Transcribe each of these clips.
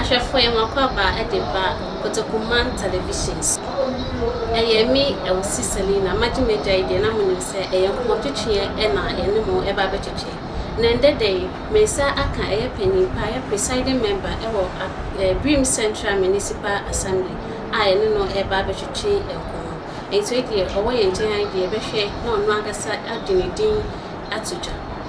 Ahwɛfoɔ yɛ mo akwaaba de ba Kotoku man television so. Ɛyɛ me Elsie Selina, magye m'agya yi deɛ na monim sɛ ɛyɛ nkɔmmɔ twetweɛ na yɛne mo ɛba abɛtwetwe. Na ɛndɛ da yi me nsa aka ɛyɛ panin paa ɛyɛ presiding member wɔ Birim Central Municipal Assembly a yɛne no ɛba abɛtwetwe nkɔmmɔ. Nti wei deɛ ɔwɔ yɛn nkyɛn ha yi deɛ yɛbɛhwɛ na ɔno ankasa agye ne din ato dwa.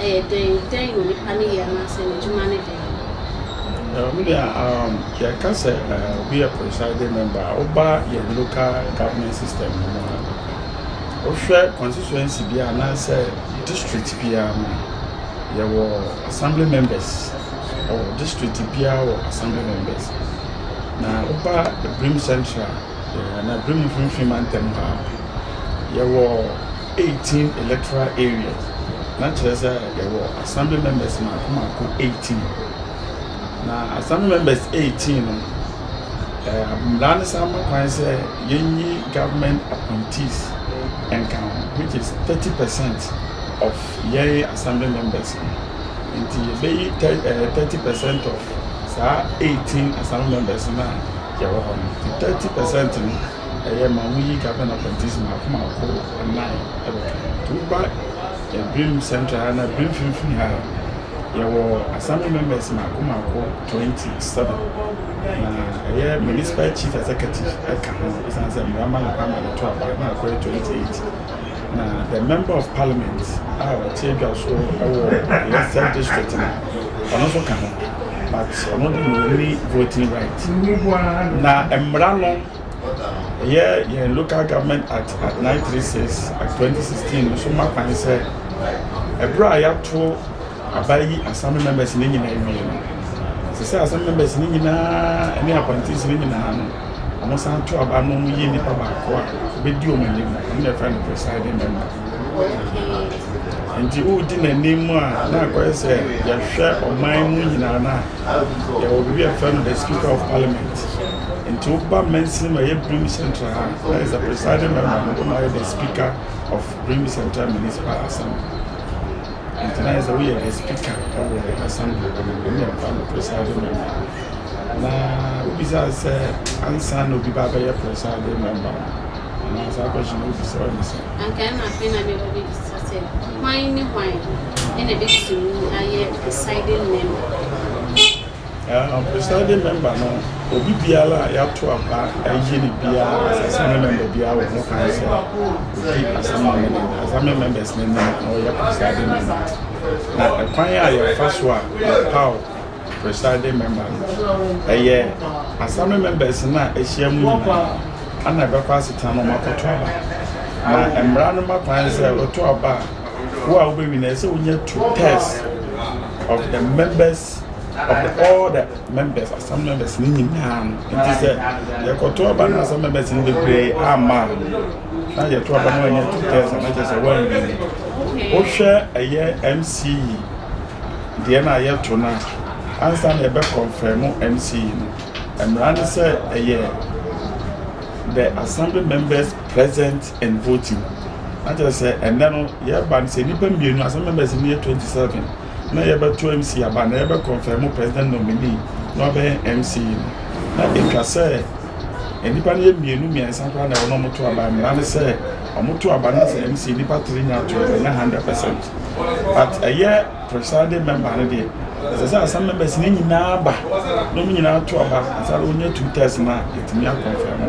Ɛyɛ dɛn? Dɛn na onipa no yɛ anaasɛ n'adwuma ne dɛn? Me deɛ um, yɛka sɛ uh, obi yɛ presiding member a, woba yɛn local government system no mu a, wohwɛ constituency bi anaasɛ district biara mu a, yɛwɔ assembly members ɛwɔ district biara wɔ assembly members na woba Brim Central Anadwo mfinimfini mantam ha ara, yɛwɔ eighteen electoral areas, na kyerɛ sɛ yɛwɔ assembly members mmaako mmaako eighteen. Na assembly members eighteen no, ɛɛ mmara no san ma kwan sɛ yɛnyi government appointees nka ho, which is thirty percent of yɛn assembly members no. Nti yɛbɛyi thir ɛɛ thirty percent of saa eighteen Assembly members no a yɛwɔ hɔ no, the thirty percent no ɛyɛ ma wɔn yi government appointees mako mako nnan ɛbɛka ho. To woba Ebrim Central ha na Ebrim Finfin ha yɛwɔ Assembly members mako mako twenty seven na ɛyɛ municipal chief executive ɛka ho esan sɛ mmara ma ne kwan ma ne to aba na akɔyɛ twenty eight. Na the member of parliament a ɔte adwa so wɔ yɛn third district no ɔno nso ka ho but ɔno de na ɔni voting right na mmara no ɛyɛ yɛn local government act at 936 at 2016 no so ma kwan sɛ ɛberɛ a yɛato abayi assembly members no nyinaa wie no, ɛsɛ sɛ assembly members no nyinaa ne appointees no nyinaa no, wɔsan to aba na wɔyi nipa baako a obedi wɔn anim, ɛno na ɛfrɛ no presiding member. Nti wodi n'anim a na akɔyɛ sɛ yɛhwɛ ɔman mu nyinaa no a, yɛwɔ biribi a yɛfrɛ no the speaker of parliament. Nti woba mansin mu a ɛyɛ Brim Central ha a, na is the presiding member no na ɔyɛ the speaker of Brim Central Municipal Assembly. Ntsi dɛ sɛ woyɛ guest speaker wɔ asɛmpa do no, nna ebɛfa no presiding member. Na wobisaa no sɛ, Ansaana obi ba abɛyɛ presiding member no, anaa saa question no wobisa wo no sɛ. Anka nna afei na mebɔ bebisa sɛ, Hwan nye hwan na ebetumi ayɛ presiding member? Presiding Member no, obi biara a yɛato aba ayi no biara as Assignment Member biara wɔ ho kwan sɛ odi asɛm no anim, Assignment Members no anim na ɔyɛ Presiding Member. Na ɛkwan a yɛfa so a yɛpaw Presiding Member no, ɛyɛ Assignment Members no a ahyia mu nyinaa na ɛbɛkɔ asetena na wɔakɔto aba. Na mmara no ma kwan sɛ wɔto aba a, wo a wobɛwini no, ɛsɛ sɛ wonya two thirds of the members ɔbɛ all the members asam members ne nyinaa no nti sɛ yɛkɔto aba no asam members no bebree ama na yɛto aba no anyɛ two thirds na kyɛ sɛ wɔanwie wohwɛ ɛyɛ mce deɛ no a yɛto no a ansa na yɛbɛ confirm mce no mmara ne sɛ ɛyɛ the assembly members present and voting na kyerɛ sɛ ɛnɛ no yɛba no sɛ nnipa mmienu asam members no yɛ 27 na yɛbɛto MC aba na yɛbɛ kɔnfɛmo president nominee na ɔbɛyɛ MC no na etwa sɛ nnipa no yɛ mmienu mmiɛnsa koraa na ɛwɔ na wɔto aba mmara ne sɛ wɔto aba na sɛ MC nnipa tiri nya ato ɛnyɛ hundred percent but ɛyɛ presiding member no deɛ ɛsɛ sɛ asam members no nyinaa ba na wɔn nyinaa to aba ansa na wɔnya two thirds na yɛtumi akɔnfɛmo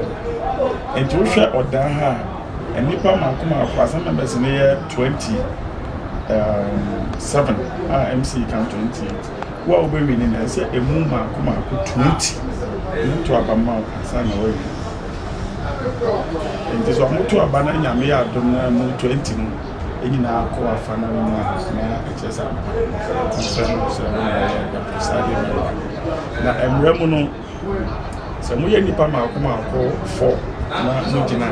nti wohwɛ ɔdan ha a Nnipa mmaako mmaako, Assembly members no yɛ twenty seven a MC ka no twenty eight. Wo a wobɛwi ne na ɛsɛ emu mmaako mmaako twenty mu to aba ma wo ansa na wawi. Nti sɛ wɔto aba na nyame yɛ adom na mu twenty no nyinaa kɔ afa no mu a na ɛkyerɛ sɛ ampa mpɛ no sɛ ɛno na ɛyɛ presiding member. Na mmerɛ mu no Sɛ moyɛ nnipa mmaako mmaako fɔ na mogyina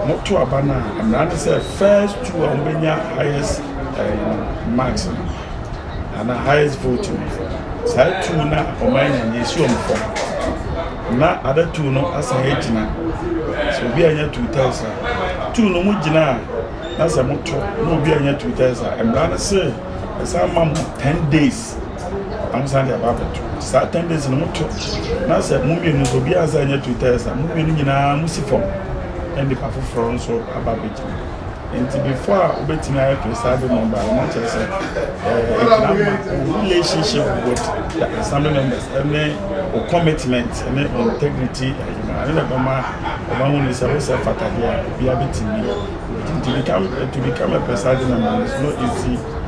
a, moto aba no a, mmara ne sɛ first two a wɔbɛnya highest eh, marks no anaa highest vote no saa two no a wɔn anya no yɛsi wɔn fam na ada two no asan agyina sɛ obi anya two thirds a two no mu gyina a na sɛ moto na obi anya two thirds a mmara no sɛ ɛsan ma mo ten days Ɔno san de aba abɛto. Saa ten days no mo to. Na sɛ mo mmienu nso obi ansa nyɛ two thirds a, mo mmienu nyinaa mo si fam. Ɛna nipa foforɔ nso aba abɛgyina. Nti before a wobɛtumi ayɛ presiding member no, na kyerɛ sɛ ɛɛ ɛgyina ma wo relationship with the assembly members ɛne wo commitment ɛne wo integrity ɛyima. Ɛne na ɛbɛma ɛma ho ni sɛ wo sɛ fatadeɛ a obiara bɛtumi. Nti to become to become a presiding member is not easy.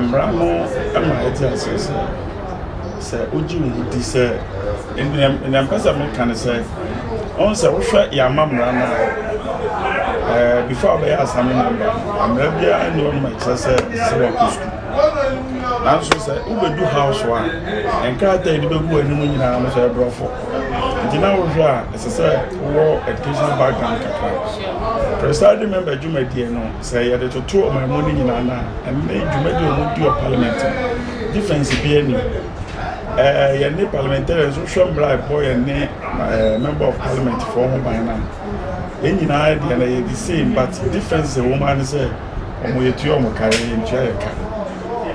Mmara no ma yɛte aseɛ sɛ, sɛ wogye wo ho di sɛ, nea mpɛ sɛ meka ne sɛ, ɔhu sɛ wohwɛ yɛama mmara no a, before wobɛyɛ asame member no, mmara biara nni hɔ nom a ɛkyerɛ sɛ ɛsɛ sɛ wakɔ sukuu. Nanso sɛ wobɛdu house a, nkrataa a ɛde bɛgu w'anim nyinaa no sɛ ɛborɔfo. Nti na wohwɛ a, ɛsɛ sɛ wowɔ educational background kakra. Presiding member dwumadie no, Sɛ yɛde toto ɔman mu no nyinaa no a, ɛnnɛ yi dwumadi a wɔdi wɔ parliament no, difference biara nni mu. Ɛɛ yɛne parliamentarians wohwɛ mmara a ɛbɔ yɛne ɛɛ member of parliament foɔ ho ban no a, yɛn nyinaa deɛ no yɛ the same but difference a ɛwɔ mu ara ne sɛ wɔn yɛtua wɔn ka, yɛn yɛntua yɛn ka.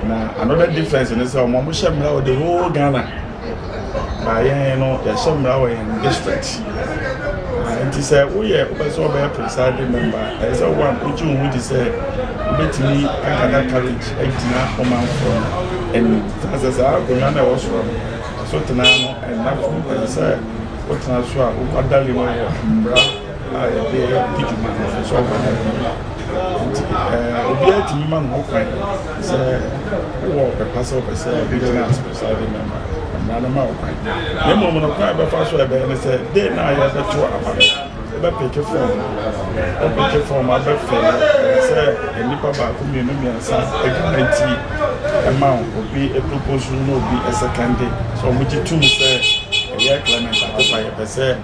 Na another difference ne sɛ wɔn wɔhyɛ mmara wɔ the whole Ghana. Na yɛn no yɛhyɛ mmara wɔ yɛn district. Na nti sɛ woyɛ wopɛ sɛ wɔbɛyɛ presiding member a, ɛsɛ sɛ one wogye wo ho di sɛ wobɛtumi akada courage agyina ɔmanfoɔ no anim. Na sɛ saa akonnwa no a ɛwɔ soro no so tena no ɛnna fam, ɛsɛ sɛ wotena so a wokwadare mu wɔ mmara a yɛde di dwuma no mfaso aba ne ho. Nti obiara tumi ma ne ho kwan sɛ wowɔ ɔpɛpa sɛ wopɛ sɛ wogyina ase presiding member mmara no ma wo kwan na mmom no kwan a ɛbɛfa so a ɛbɛyɛ ne sɛ de na a yɛbɛto aba no wobɛpeke fɔm wopeke fɔm abɛfɛlɛ sɛ nnipa baako mmienu mmiɛnsa adwuma nti ɛma obi propose no na obi ɛsɛkɛnde sɛ wɔgye tom sɛ ɛyɛ clement akopa yɛpɛ sɛ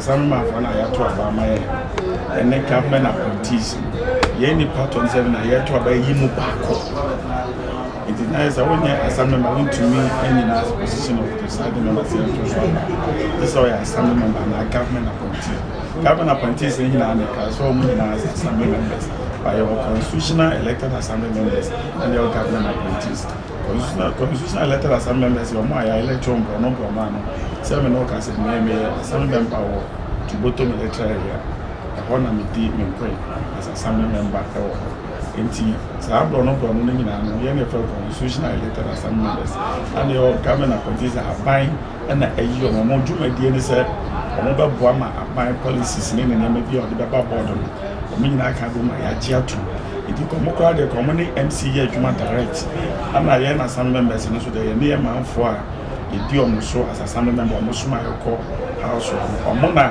Asaromanfoɔ no a yɛato aba ama yɛn ɛne government appointees no yɛn nipa tɔ no sɛ na yɛto aba yi mu baako nti na yɛ sɛ wonyɛ assembly member wontumi anyina position of presiding member sɛ yɛto so aba te sɛ ɔyɛ assembly member anaa government appointee government appointees no nyinaa ne ka sɛ ɔmo nyinaa sɛ assembly members but yɛwɔ constitutional elected assembly members ɛne yɛwɔ government appointees Commissioner Commissioner letter asɛm bɛn bɛsi wɔn a yɛayɛ lɛkyɛw mprɔno mprɔno ano sɛ me ne wo ka sɛ nea meyɛ asɛm bɛn pa wɔ Tubotom Lɛkyɛrɛ Area. Ɛhɔ na medi me nkoe as Assembly Member wɔ hɔ. Enti saa mprɔno mprɔno no nyinaa no yɛn ne yɛfrɛ Constitutional Elected Assembly Members a na yɛwɔ Government Appointees Ahaban na ayi wɔn. Wɔn dwumadie ne sɛ wɔbɛboa ma aban policies ne ne nneɛma bi a wɔde bɛba board no, wɔn nyinaa aka abom ma yɛagye atom. Nti ka wɔn koraa deɛ ka wɔn ne MC yɛ adwuma direct. Ɛna yɛn assembly members no nso deɛ yɛne yɛ manfoɔ a yɛdi wɔn so as assembly member wɔn soma yɛn kɔ house wɔn. Wɔn na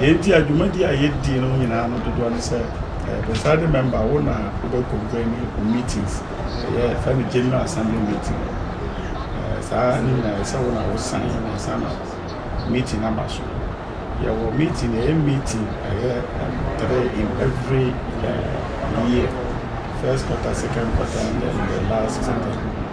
Deɛ nti a dwumadi a yɛdi no nyinaa no dodoɔ ne sɛ ɛyɛ presiding member wo na wobɛ convene wo meetings ɛyɛ ɛfɛ no general assembly meeting ɛɛ saa ne nyinaa ɛyɛ sɛ wo na wo sign na ansa na meeting aba so yɛwɔ meeting ɛyɛ meeting ɛyɛ um, three in every uh, year first quarter second quarter and then the last quarter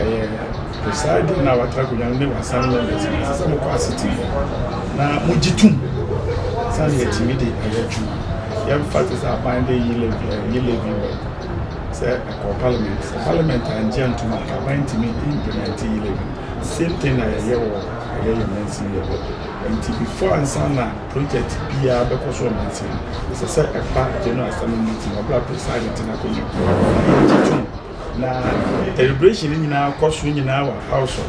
ɛyɛ presiding na watra akonnwa no ne w'asan members no ɛsɛ sɛ mokɔ asete mu na mogye tom sɛne yɛtumi de ayɛ adwuma yɛmfa te sɛ aban de yi levy eh, yi levy wɔ sɛ ɛkɔ parliament sɛ parliament angye antom a aban ntumi implement yi levy same thing na yɛyɛ wɔ ɛyɛ yɛ mansin yɛ hɔ nti before ansa na project biara bɛkɔ so wɔ mansin ɛsɛ sɛ ɛfa general assembly meeting ɔbra presiding te no akonnwa na yɛgye tom Na deliberation no nyinaa kɔ so nyinaa wɔ apaw so.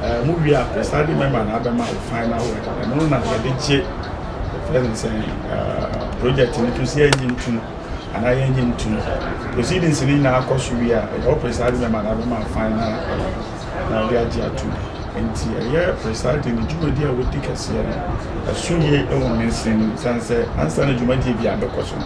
Ɛɛ mo wie a presiding member na abɛma o final word. Ɛno no na yɛde gye ɛfrɛ no sɛ project no to si anyi ntum anaa yɛnyi ntum. Proceedings no nyinaa kɔ so wie a ɛda o presiding member na abɛma o final word na ɔde agye atum. Nti ɛyɛ presiding ne dwumadi a wodi kɛseɛ no ɛso yie wɔ ne nsam sane sɛ ansa na dwumadie biara bɛkɔ so no.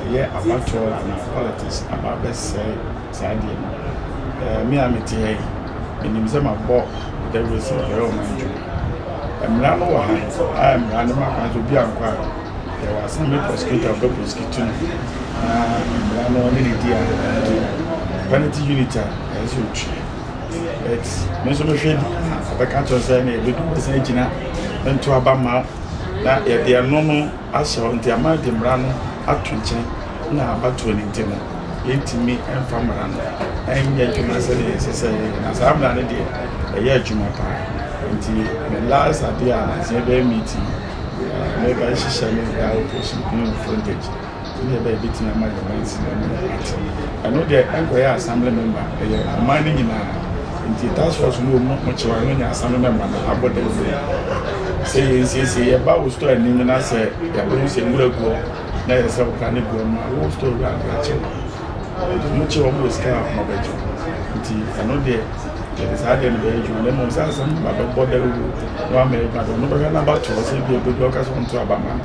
Ɛyɛ abatoɔ anaa politics aba abɛsɛe saa adeɛ no. Ɛɛ me a me te ha yi, me nim sɛ ma bɔ dawuro sɛ yɛ bɛyɛ ɔman adwuma. Mmara no wɔ ha a mmara no ma kwan sɛ obi ankɔ a, yɛ wɔ assembly prosecutor ɔbɛ prosecute no na mmara no ɔne ne di a ɔdi. Penalty unit a ɛyɛ sɛ otua. But me nso me hwɛ di a ɔbɛka kyerɛ sɛ na yɛ bɛ du bɛsan agyina nto aba ma na yɛ deɛ no no. ahyɛ hɔ nti ama de mmara no ato nkyɛn na abatoɔ no nti no yɛntumi mfa mmara no nyɛ adwuma sɛdeɛ ɛsɛ sɛ yɛyɛ na saa mmara no deɛ ɛyɛ adwuma paa nti me last adeɛ a sɛ yɛbɛyɛ meeting mɛba hyehyɛ ne da operation in frontage ne ɛbɛyɛ bɛtumi ama yɛn mansi no ate ɛno deɛ ɛnkɔyɛ assembly member ɛyɛ ɔman no nyinaa Nti task force no wɔ mu mo kyew ano nya asane na ɛma no abɔ dawuro yi. Sɛ yɛ nsiesie yɛ ba wo store anim na sɛ yɛ bɛ ho sɛ nwura gu hɔ na yɛ sɛ wo ka ne gu hɔ no a wo store wura no bɛ kye no. Nti mo kye wɔn wɔ sika a wɔn bɛ gye wɔn. Nti ɛno deɛ yɛ de saa deɛ no bɛ yɛ adwuma na mmom sɛ asɛm ba bɛ bɔ dawuro na wama yɛ adwuma deɛ ɔno bɛ hwɛ na aba to hɔ sɛ ebi a obɛ du hɔ ɔka sɛ ɔnto aba ma no.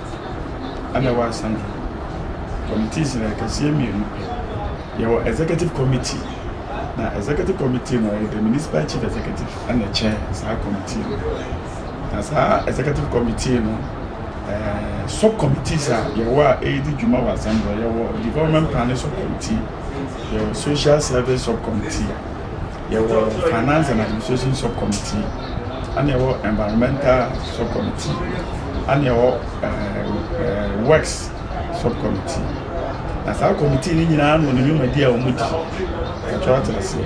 ɛna ɛwɔ Asante. Committees no yɛ akɛseɛ mmienu. Yɛwɔ Executive Committee, na Executive Committee no ɛyɛ the Municipal Chief Executive ɛna ɛkyɛ saa committee no. Na saa Executive Committee no eh, sub committees a yɛwɔ a ɛredi dwuma wɔ Asante yɛwɔ Development Planning Sub Committee, yɛwɔ Social Service Sub Committee, yɛwɔ Finance and Administration Sub Committee, ɛna ɛwɔ Environmental Sub Committee, ɛna ɛwɔ ɛɛ Works Sub Committee. Na saa committee no nyinaa no ne dwumadi a wɔn di. Ɛtwa ate aseɛ.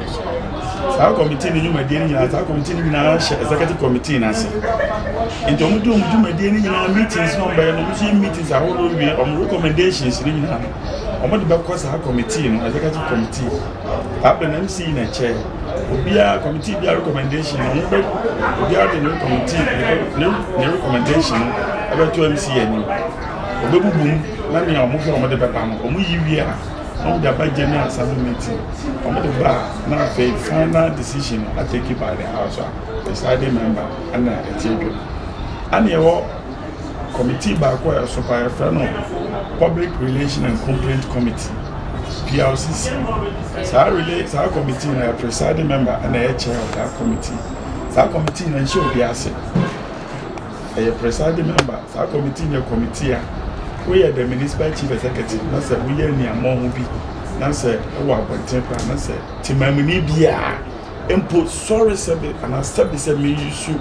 Saa committee no dwumadi no nyinaa, saa committee no nyinaa hyɛ executive committee no ase. Nti wɔn di wɔn dwumadi no nyinaa meetings na wɔn bɛyɛ no, wɔn nso yɛ meetings ahodoɔ wie, wɔn recommendations no nyinaa no, wɔn de bɛkɔ saa committee no, executive committee. Abɛn MC na ɛkyɛ obiara committee biara recommendation no wɔn bɛ obiara de ne committee ne ne recommendation no ɛbɛto MC anim ɔbɛbubu mu na nea wɔn hwɛ wɔn de bɛba no wɔn yi wie a na wɔn de aba general assembly meeting wɔn de ba na afei final decision atake by the house a presiding member ɛna ɛte adwam ɛna ɛwɔ. Kɔmitii baako a ɛso pa a yɛfrɛ no Public Relation and Complaint Committee, PRCC. Saa relay saa kɔmitii no yɛ presiding member na ɛyɛ chair of that committee. Saa kɔmitii no nhyɛ obi ase. Ɛyɛ presiding member. Saa kɔmitii no yɛ kɔmitii a woyɛ the municipal chief executive na sɛ woyɛ nneɛma ho bi na sɛ wɔ abɔnten koraa na sɛ temamuni biara mpo sɔre sɛbe anaa sɛbe sɛ meresu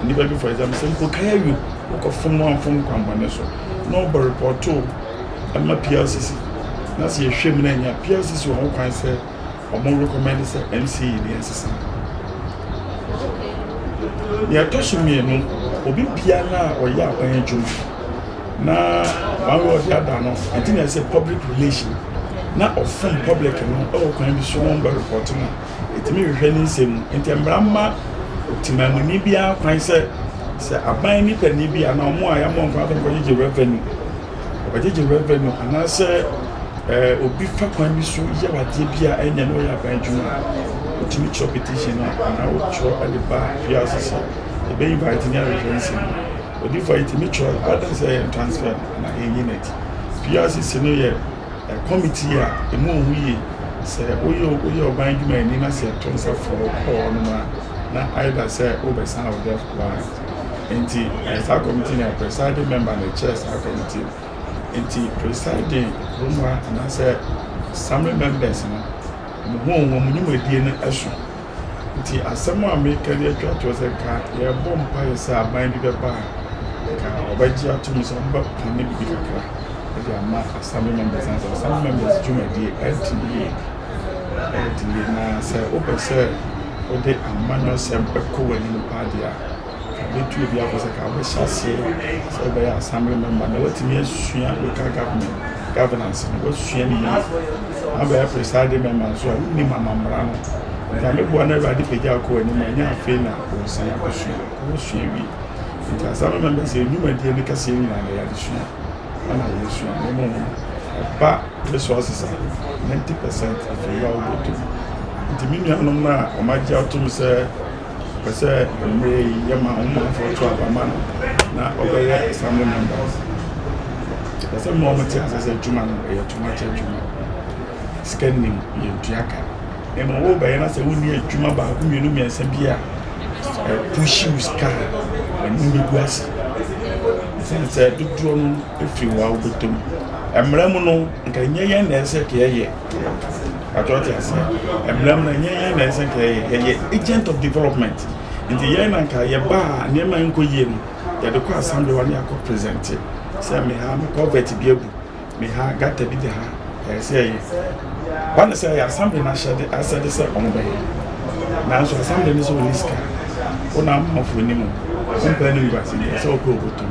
nnipa bi for example sɛ mpo kae awie wokɔfom no amfom kwammɔne so na ɔbɔ repɔto ɛma PLCC na sɛ yɛhwɛ mu na ɛnya PLCC wɔn ho kwan sɛ wɔn recommend sɛ MCA yi ne ɛnsesa nea ɛtɔ so mmienu obi bia no a ɔyɛ aban adwuma na one way or the other no ɛnti na ɛsɛ public relation na ɔfom public no ɛwɔ kwan bi so na ɔmbɛ repɔto no etumi hwehwɛ ne nsɛm mu. Enti mmara mma temamuni biara kwan sɛ sɛ aban nipani bi anaa wɔn a yɛammɔ nkwa adom kɔgyegye revenue, wɔbɛgyegye revenue anaasɛ ɛɛ eh, obi fa kwan bi so yɛ adeɛ bi a ɛnyɛ na ɔyɛ aban adwuma a, wotumi kyerɛ petition no anaa wotwerɛ de ba fiase sɛ ɛbɛyi ba etumi ahwehwɛ nsɛm mu. Odifo a yɛtumi kyerɛ ɔbɛdan sɛ yɛn transfer na ɛnyi n'akyi. Fiase si no yɛ Committee a emu ohu yie, sɛ woyɛ woyɛ ɔban dwumayɛni na sɛ yɛto nsa frɛ wo kɔ hɔnom a, na either sɛ wobɛsan wo deaf card. Nti ɛyɛ saa committee no yɛ presiding member na ɛkyɛɛ saa committee no. Nti presiding kurom ha anaasɛ assembly members no, wɔn ho wɔn dwumadie no so. Nti asɛm a meka de atwa toɔ sɛ nka yɛbɔ mpaeɛ sɛ aban bi bɛba a nka ɔbɛgye atom sɛ ɔmbɛpane biribi kakra de ama assembly members na sɛ assembly members dwumadie ɛdi yie ɛdi yie na sɛ wopɛ sɛ wode amanyɔsɛm ɛkɔ w'anim paa deɛ a Yɛbɛtu ebi akɔ sɛ nka wobɛhyɛ aseɛ sɛ wobɛyɛ assembly member na woatumi asua local government governance no woasua ne yie na bɛyɛ presiding member nso a wonim amammara no nti ameboa no awurade pagya akɔ anim a ɛnyɛ afei na wɔsan akɔsua wɔsua wie nti assembly member sɛ nnwumadie no kɛseɛ nyinaa na yɛde sua ɛna yɛsua na ɛmu no ɛba resources a 90 percent afei yɛ a wobɛtum nti me nuanom no a wɔagye atom sɛ Ɔpɛ sɛ mmerɛ yi yɛma wo manfoɔ to aba ma no na ɔbɛyɛ assembly members. Ɔpɛ sɛ ma wɔte ase sɛ adwuma no ɛyɛ tomato adwuma. Sika nim yɛntua ka. Ɛma wo bɛyɛ na sɛ wonni adwuma baako mmienu mmiɛnsa bi a ɛpuhyi wo sika a ɛno bɛgu ase. Ɛsiane sɛ dodoɔ no ɛfiri wo a wobɛtɔ mu. Mmara mu no nka ɛnyɛ yɛn na ɛsɛ sɛ yɛyɛ. Pacho ɔte aseɛ. Mmerɛ mu no ɛnyɛ yɛn na ɛsɛ nka yɛyɛ, yɛyɛ agent of development. Nti yɛn na nka yɛba a nneɛma nkɔ yie no, yɛde kɔ assembly hɔ ne akɔ presente sɛ me ha me culvert bi abu, me ha gutter bi da ha, ɛyɛ sɛ ɛyɛ. Ba ne sɛ ɛyɛ assembly no ahyɛde asɛde sɛ wɔn bɛyɛ. Nanso assembly no sɛ wɔn ni sika, wɔn na amanfoɔ nim wɔn, wɔn pɛ ne nguase, deɛ sɛ wɔpɛ wɔbɛtum.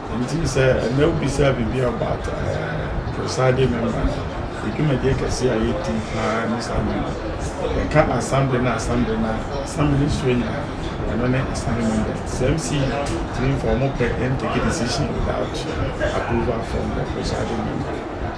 Enti sɛ ɛnnɛ wobisaa biribi about ɛɛ presiding member no, yɛ dwumadie kɛseɛ a yɛdi paa ne saa member. Yɛka assembly ne assembly no a, assembly no nsuo nyɛ a, ɛno ne assembly members. Te sɛ MC tumi mfa wɔn pɛ ntake decision without approval from the presiding member.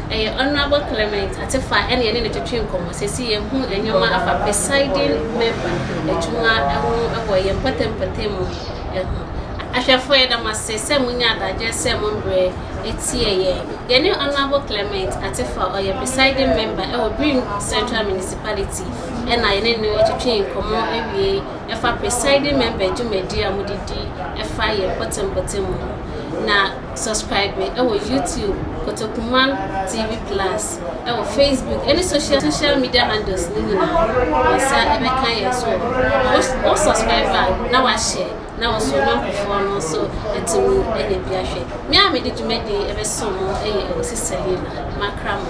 Ɛyɛ Honourable Clement Atefa ne yɛne no twetwee nkɔmmɔ sɛ si yɛhu nneɛma afa Presiding Member adwuma ho wɔ yɛn mpɔtam mpɔtam mu ho. Ahwɛfoɔ yɛda mo ase sɛ mo nyaa adagyeɛ sɛ mo mbrɛ atie yɛn. Yɛne Honourable Clement Atefa ɔyɛ Presiding Member wɔ Birim Central Municipality na yɛne no twetwee nkɔmmɔ awiei ɛfa Presiding Member dwumadie a mode di ɛfa yɛn mpɔtam mpɔtam mu ho. Na Subscribe me ɛwɔ YouTube Kotokuman TV plus ɛwɔ Facebook ɛne social social media handles ne nyinaa nsa ɛbɛka yɛn so wo subscribe a na wahyɛ na wo so na nkurɔfoɔ no nso atumi ɛnyɛ bi ahwɛ me a mede dwumadi ɛbɛso mo ɛyɛ ɛwɔ sisa yi na makra mo